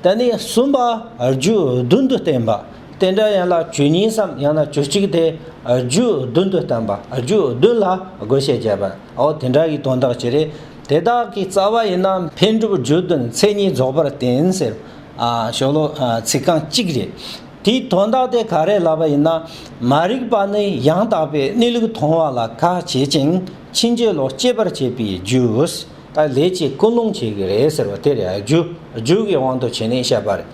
དེ་ནས་གསུམ་པ་རྒྱུད་བདུན་དུ་བསྟན་པ། དེ་འདྲ་ཡན་ལག་བཅུ་གཉིས་སམ་ཡང་ན་བཅུ་གཅིག་དེ་རྒྱུད་བདུན་དུ་བསྟན་པ། རྒྱུད་བདུན་ལ་དགོས་ཤེས་བརྒྱད་པ། འོ་དེ་འདྲ་ཡི་དོན་དག་ཅི་རེད། དེ་དག་གི་རྩ་བ་ཡིན་ན་འཕེལ་འགྲིབ་རྒྱུད་བདུན་མཚན་ཉིད་རྫོགས་པར་བསྟན་ཟེར། ཞོ་ལོ། ཚིག་རྐང་གཅིག་རེད། དེའི་དོན་དག་དེ་ག་རེ་ལབ་པ་ཡིན་ན། མ་རིག་པ་ནི་ཡང་དག་པའི་གནས་ལུགས་མཐོང་བ་ལ་ཁ་བྱེད་ཅིང་ཕྱིན་ཅི་ལོག་སྐྱེད་པར་བྱེད་པའི་རྒྱུ། ད་ལས་གཅིག་ཀུན་སློང་བྱེད་ཀྱི་རེད་ཟེར་བ་དེ་རེད་ཨ། རྒྱུ་རྒྱུད་ཀྱི་དབང་དུ་བྱས་ནས་བཤད་པ་རེད།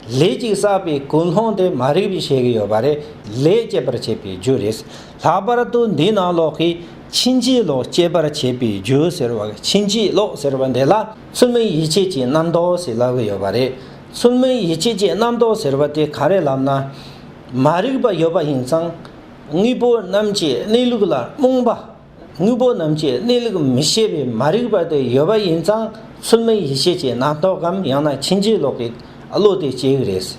ལས་གཅིག་བསགས་པའི་ཀུན་སློང་དེ་མ་རིག་པས་བྱེད་ཀྱི་ཡོད་པ་རེད། ལས་སྐྱེད་པར་བྱེད་པའི་རྒྱུ་རེད། ལྷག་པར་དུ་འདི་ན་ལོག་གི། ཕྱིན་ཅི་ལོག་སྐྱེད་པར་བྱེད་པའི་རྒྱུ་ཟེར་བ་ཕྱིན་ཅི་ལོག་ཟེར་བ་འདི་ལ་ཚུལ་མིན་ཡིད་བྱེད་ཀྱི་རྣམ་རྟོག་ཟེར་ལབ་ཀྱི་ཡོད་པ་རེད། ཚུལ་མིན་ཡིད་བྱེད་ཀྱི་རྣམ་རྟོག་ཟེར་བ་དེ་ག་རེ་ལབ་ན། མ་རིག་པ་ཡོད་པ་ཡིན་ཙང། དངོས་པོ་རྣམས་ཀྱི་གནས་ལུགས་ལ་རྨོངས་པ། དངོས་པོ་རྣམས་ཀྱི་གནས་ལུགས་མི་ཤེས་པས་མ་རིག་པ་དེ་ཡོད་པ་ཡིན་ཙང་ཚུལ་མིན་ཡིད་བྱེད་ཀྱི་རྣམ་རྟོག་གམ་ཡང་ན་ཕྱིན་ཅི་ལོག་གི་བློ་དེ་སྐྱེ་གི་རེད།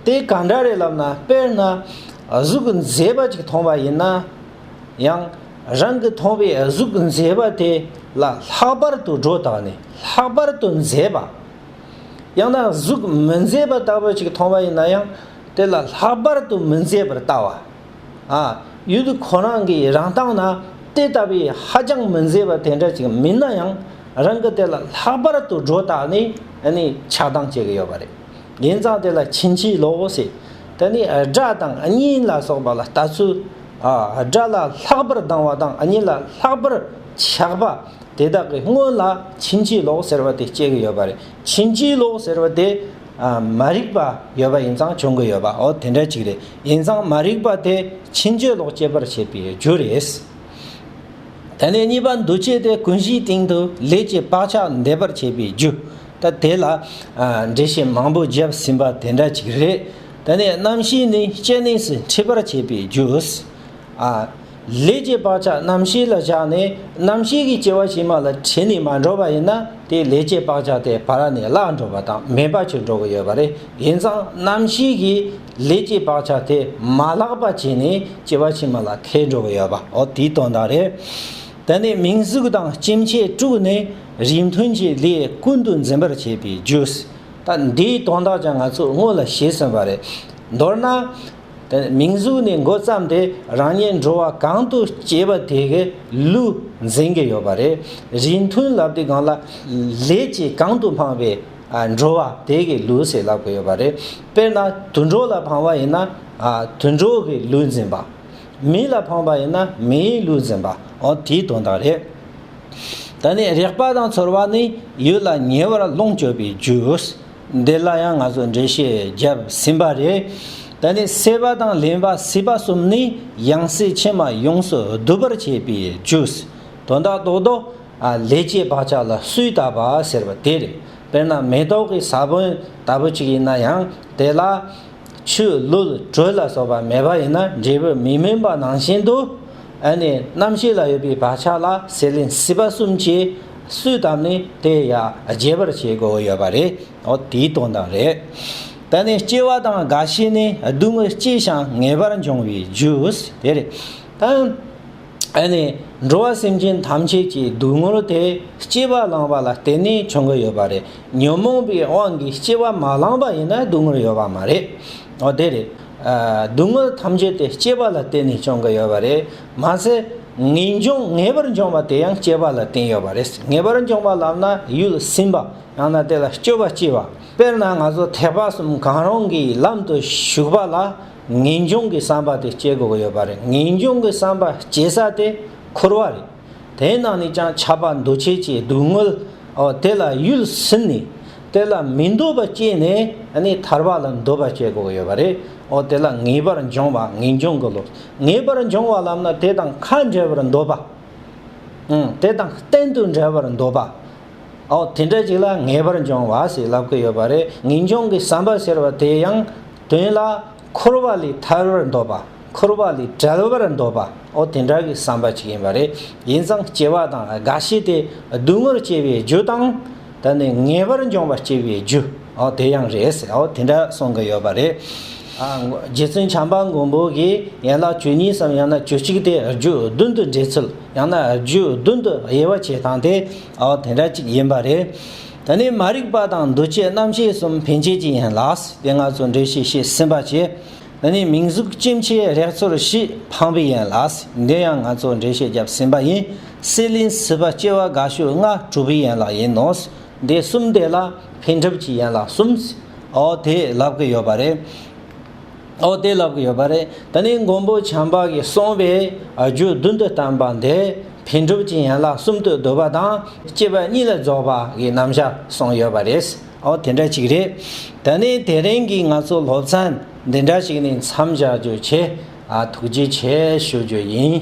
དེ་ག་འདྲ་རེད་ལབ་ན་དཔེར་ན་གཟུགས་མཛེས་པ་ཅིག་མཐོང་པ་ཡིན་ན་ཡང་རང་གི་མཐོང་བའི་གཟུགས་མཛེས་པ་དེ་ལ་ལྷག་པར་དུ་སྒྲོ་བཏགས་ནས་ལྷག་པར་དུ་མཛེས་པ། ཡང་ན་གཟུགས་མི་མཛེས་པ་ལྟ་བུ་ཅིག་མཐོང་བ་ཡིན་ན་ཡང་དེ་ལ་ལྷག་པར་དུ་མི་མཛེས་པར་བལྟ་བ། ཡུལ་དུ་ཁོ་རང་གི་རང་སྟངས་ན་དེ་ལྟ་བུའི་ཧ་ཅང་མི་མཛེས་པ་དེ་འདྲ་ཅིག་མིན་ན་ཡང་རང་གི་དེ་ལ་ལྷག་པར་དུ་སྒྲོ་བཏགས་ནས་ཆགས་སྡང་བྱེད་ཀྱི་ཡོད་པ་རེད། ཡིན་ཙང་དེ་ལ་ཕྱིན་ཅི་ལོག་ཟེར། དེ་ནི་དགྲ་དང་གཉེན་ལ་སོགས་པ་ལ་ལྟ་ཚུལ། དགྲ་ལ་ལྷག་པར་སྡང་བ་དང་གཉེན་ལ་ལྷག་པར་ཆགས་པ་དེ་དག་གི་སྔོན་ལ་ཕྱིན་ཅི་ལོག་ཟེར་བ་དེ་སྐྱེ་གི་ཡོད་པ་རེད། ཕྱིན་ཅི་ལོག་ཟེར་བ་དེ། མ་རིག་པ་ཡོད་པ་ཡིན་ཙང་བྱུང་གི་ཡོད་པའོ་དེ་འདྲ་ཅིག་རེད། ཡིན་ཙང་མ་རིག་པ་དེ་ཕྱིན་བཅོས་ལོག་སྐྱེ་བར་བྱེད་པའི་རྒྱུ་རེད། དེ་ནས་གཉིས་པ་འདུ་བྱེད་དེ་ཀུན་གཞིའི་སྟེང་དུ་ལས་ཀྱི་བག་ཆགས་འདས་པར་བྱེད་པའི་རྒྱུ། ད་དེ་ལ་འགྲེལ་བཤད་མང་པོ་བརྒྱབ་ཟིན་པ་དེ་འདྲ་ཅིག་རེད། དེ་ནས་རྣམ་ཤེས་ནི་སྐྱེ་གནས་སུ་འཁྲིད་པར་བྱེད་པའི་རྒྱུ། ལས་ཀྱི་བག་ཆགས་རྣམ་ཤེས་ལ་བཞག་ནས་རྣམ་ཤེས་ཀྱི་སྐྱེ་བ་ཕྱི་མ་ལ་ཁྲིད་ནས་མ་འགྲོ་བ་ཡིན་ན་དེ་ལས་ཀྱི་བག་ཆགས་དེ་བར་ནས་བརླག་འགྲོ་བ་དང་མེད་པ་ཆོད་འགྲོ་གི་ཡོད་པ་རེད་ཡིན་ཙང་རྣམ་ཤེས་ཀྱིས་ལས་ཀྱི་བག་ཆགས་དེ་མ་བརླག་པ་བྱས་ནས་སྐྱེ་བ་ཕྱི་མ་ལ་ཁད་འགྲོ་གི་ཡོད་པ་འོ་དེའི་དོན་དག་རེད། དེ་ནས་མིང་གཟུགས་དང་སྐྱེ་མཆེད་དཀྲུགས་ནས་རིས་མཐུན་གྱི་ལས་ཀུན་ཏུ་འཛིན་པར་བྱེད་པའི་རྒྱུས། ད་འདིའི་དོན་དག་ཀྱང་ང་ཚོས་དངོས་ལ་ཤེས་ཟིན་པ་རེད། མདོར་ན། མིང་གཟུགས་ནས་འགོ་བརྩམས་ཏེ་རང་ཉིད་འགྲོ་བ་གང་དུ་སྐྱེས་པ་དེ་གའི་ལུས་འཛིན་གྱི་ཡོད་པ་རེད། རིས་མཐུན་ལབ་དེ་གང་ལ་ལས་ཀྱིས་གང་དུ་འཕངས་པའི་འགྲོ་བ་དེ་གའི་ལུས་ཞེས་ལབ་གི་ཡོད་པ་རེད། དཔེར་ན་དུད་འགྲོ་ལ་འཕངས་པ་ཡིན་ན་དུད་འགྲོ་གི་ལུས་འཛིན་པ། མི་ལ་འཕངས་པ་ཡིན་ན་མིའི་ལུས་འཛིན་པ་འོ་དེའི་དོན་དག་རེད། ད་ནི་རེག་པ་དང་ཚོར་བ་ནི་ཡུལ་ལ་ཉེ་བར་ལོངས་སྤྱོད་པའི་རྒྱུ། འདི་ལ་ཡང་ང་ཚོས་འགྲེལ་བཤད་བརྒྱབ་ཟིན་པ་རེད། ད་ནི་སྲེད་པ་དང་ལེན་པ་སྲིད་པ་གསུམ་ནི་ཡང་སྲིད་ཕྱི་མ་ཡོངས་སུ་སྡུད་པར་བྱེད་པའི་ཇུས། དོན་དག་རྡོག་རྡོག། ལས་ཀྱི་བག་ཆགས་ལ་སུས་བཏགས་པ་ཟེར་བ་དེ་རེད། དཔེར་ན་མེ་ཏོག་གི་ས་བོན་ལྟ་བུ་ཅིག་ཡིན་ན་ཡང་དེ་ལ། ཆུ་བླུད་དྲོད་ལ་སོགས་པ་མེད་པ་ཡིན་ན་འབྲས་བུ་མི་སྨིན་པ་ནང་བཞིན་དུ། འོན་ཏེ་རྣམ་ཤེས་ལ་ཡོད་པའི་བག་ཆགས་ལ་ཟད་ལན་སྲིད་པ་གསུམ་གྱིས་སུས་བཏབ་ནས་དེ་ཡང་རྒྱས་པར་བྱེད་དགོས་ཡོད་པ་རེད་འོ་དེའི་དོན་དང་རེད། ད་ནི་སྐྱེ་བ་དང་རྒ་ཤི་ནི་སྡུག་བསྔལ་སྐྱེ་ཞིང་ངེས་པར་འབྱུང་བའི་རྒྱུ་དེ་རེད། ཨ་ནི་འགྲོ་བ་སེམས་ཅན་ཐམས་ཅད་ཀྱི་སྡུག་བསྔལ་དེ་སྐྱེ་བ་བླངས་པ་ལ་བརྟེན་ནས་བྱུང་གི་ཡོད་པ་རེད། ཉོན་མོངས་པའི་དབང་གིས་སྐྱེ་བ་མ་བླངས་པ་ཡིན་ན་སྡུག་བསྔལ་ཡོད་པ་མ་རེད། འོ་དེ་རེད། སྡུག་བསྔལ་ཐམས་ཅད་དེ་སྐྱེ་བ་ལ་བརྟེན་ནས་བྱུང་གི་ཡོད་པ་རེད། མ་ཟད་ངེས་འབྱུང་ངེས་པར་འབྱུང་བ་དེ་ཡང་སྐྱེ་བ་ལ་བརྟེན་ཡོད་པ་རེད། ངེས་པར་འབྱུང་བ་ལབ་ན་ཡུལ་སིམ་པ་ཡང་ན་དེ་ལ་སྤྱོད་པ་སྐྱེ་བ། དཔེར་ན་ང་ཚོ་ཐེག་པ་གསུམ་གང་རུང་གི་ལམ་དུ་ཞུགས་པ་ལ། ངེས་འབྱུང་གི་བསམ་པ་དེ་སྐྱེ་དགོས་ཀྱི་ཡོད་པ་རེད། ངེས་འབྱུང་གི་བསམ་པ་སྐྱེ་ས་དེ་འཁོར་བ་རེད། དེའི་ནང་ནས་ཀྱང་ཆགས་པ་འདུ་བྱེད་ཀྱི་སྡུག་བསྔལ། ཨོ། དེ་ལ་ཡུལ་ཟིན་ནས། དེ་ལ་མི་འདོད་པ་སྐྱེས་ནས་ནི་ཐར་པ་ལ་འདོད་པ་སྐྱེ་དགོས་ཀྱི་ཡོད་པ་རེད། ཨོ། དེ་ལ་ངེས་པར་འབྱུང་བ་ངེས་འབྱུང་གི་ལུགས། ངེས་པར་འབྱུང་བ་ལམ་ན་དེ་དང་ཁ་འབྲལ་བར་འདོད་པ། ཨང། དེ་དང་གཏན་དུ་འབྲལ་བར་འདོད་པ། ཨོ། དེ་འདྲ་ཞིག་ལ་ངེས་པར་འབྱུང་བ་ཞེས་ལབ་ཀྱི་ཡོད་པ་རེད། ངེས་འབྱུང་གི་བསམ་པ་ཟེར་བ་དེ་ཡང། དོན་ལ། འཁོར་བ་ལས་ཐར་བར་འདོད་པ། འཁོར་བ་ལས་བྲལ་བར་འདོད་པ། འོ་དེ་འདྲ་བའི་བསམ་པ་ཅིག་ཡིན་པ་རེད། ཡིན་ཙང་སྐྱེ་བ་དང་རྒ་ཤི་དེ་སྡུག་བསྔལ་སྐྱེ་བའི་རྒྱུ་དང། ད་ནི་ངེས་པར་འབྱུང་བ་སྐྱེ་བའི་རྒྱུ། འོ་དེ་ཡང་རེད་ཟེར། འོ་དེ་འདྲ་གསུང་གི་ཡོད་པ་རེད། རྗེ་བཙུན་བྱམས་པ་མགོན་པོ་གིས་ཡན་ལག་བཅུ་གཉིས་སམ་ཡང་ན་བཅུ་གཅིག་དེ་རྒྱུ་བདུན་དུ་འགྲེལ་ཚུལ་ཡང་ན་རྒྱུ་བདུན་དུ་དབྱེ་བ་བྱེད་སྟངས་དེ་འོ་དེ་འདྲ་ཅིག་ཡིན་པ་རེད། ད་ནི་མ་རིག་པ་དང་འདུ་བྱེད་རྣམ་ཤེས་གསུམ་འཕེན་བྱེད་ཀྱི་ཡན་ལགས་ཏེ་ལྔ་ཚོ་འབྲེལ་ཞིག་ཤེས་ཟིན་པར་བྱས། ད་ནི་མིང་གཟུགས་སྐྱེ་མཆེད་རེག་ཚོར་བཞི་འཕངས་པའི་ཡན་ལགས་འདི་ཡང་ལྔ་ཚོ་འབྲེལ་ཤེས་བརྒྱབ་ཟིན་པ་ཡིན། སྲེད་ལེན་སྲིད་པ་སྐྱེ་བ་དགའ་ཤོས་ལྔ་གྲུབ་པའི་ཡན་ལག་ཡིན་ནོ། འདི་གསུམ་དེ་ལ་འཕེན་གྲུབ་ཀྱི་ཡན་ལག་གསུམ། འོ་དེས་ལབ་ཀི་ཡོད་པ་རེད། ཨོ་དེ་ལབ་གི་ཡོད་པ་རེད་ད་ནི་མགོན་པོ་བྱམས་པ་གིས་གསུངས་པའི་རྒྱུད་བདུན་དུ་བསྟན་པ་འདི་བེ་འགྲུབ་ཀྱི་ཡན་ལག་གསུམ་དུ་བསྡུ་བ་དང་བཅས་པ་གཉིས་ལ་རྫོགས་པ་གི་རྣམ་གཞག་གསུངས་ཡོད་པ་རེད་ཨོ་དེ་འདྲ་ཅིག་རེད་ད་ནི་དེ་རིང་གི་ང་ཚོ་སློབ་ཚན་འདི་འདྲ་ཞིག་ནས་མཚམས་བཞག་རྒྱུ་བྱས་ཨ་ཐུགས་རྗེ་ཆེ་ཞུ་རྒྱུ་ཡིན།